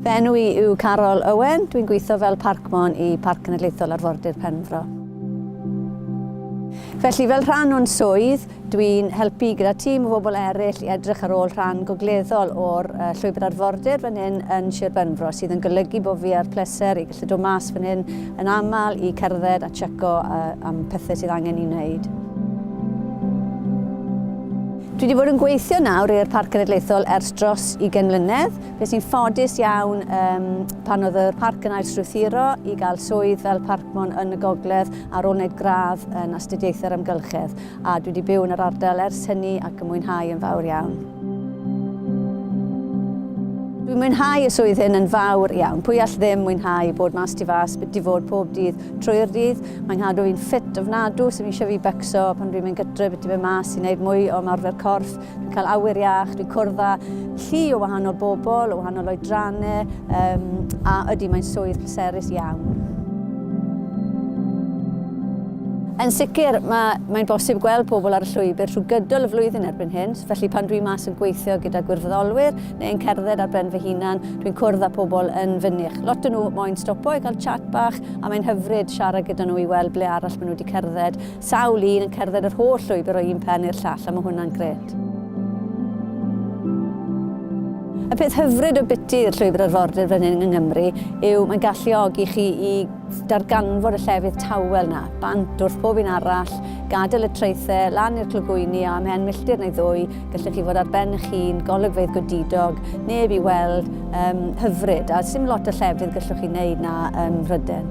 Fy enw i yw Carol Owen, dwi'n gweithio fel Parkmon i Parc Cenedlaethol Arfordir Penfro. Felly fel rhan o'n swydd, dwi'n helpu gyda tîm o bobl eraill i edrych ar ôl rhan gogleddol o'r uh, llwybr arfordir fan hyn yn Sir Benfro, sydd yn golygu bod fi ar pleser i gallu dod mas fan hyn yn aml i cerdded a checo uh, am pethau sydd angen i wneud. Dwi wedi bod yn gweithio nawr i'r Parc Cenedlaethol ers dros ugain mlynedd. Beth sy'n ffodus iawn, um, pan oedd y parc yn ailstrwythuro i gael swydd fel parcmon yn y gogledd ar ôl wneud gradd yn astudiaethau'r amgylchedd, a dwi wedi byw yn yr ardal ers hynny ac yn mwynhau yn fawr iawn. Dwi'n mwynhau y swydd hyn yn fawr iawn. Pwy all ddim mwynhau bod mas tu fas, byti fod pob dydd, trwy'r dydd. Mae'n cadw fi'n ffit ofnadw, sy'n eisiau fi becso pan dwi'n mynd gytre, beth fe mas i wneud mwy o ymarfer corff. Dwi'n cael awyr iach, dwi'n cwrdd â llu o wahanol bobl, o wahanol oedrannau, um, a ydy mae'n swydd pleserus iawn. Yn sicr, mae, mae'n bosib gweld pobl ar y llwybr trwy gydol y flwyddyn erbyn hyn, felly pan dwi'n mas yn gweithio gyda gwirfoddolwyr, neu'n cerdded ar ben fy hunan, dwi'n cwrdd â pobl yn fynych. Lot o nhw moyn stopo i gael chat bach a mae'n hyfryd siarad gyda nhw i weld ble arall maen nhw wedi cerdded. Sawl un yn cerdded yr holl llwybr o un pen i'r llall a mae hwnna'n gret. Y peth hyfryd o biti i'r llwybr arfordir fan hyn yng Nghymru yw mae'n galluogi chi i darganfod y llefydd tawel na, bant wrth bob un arall, gadael y traethau, lan i'r clogwyni a ymhen milltir neu ddwy, Gallech chi fod ar ben eich hun, golygfeydd godidog, neb i weld, um, hyfryd, a sy'n lot o llefydd gallwch chi wneud na um, Rhyden.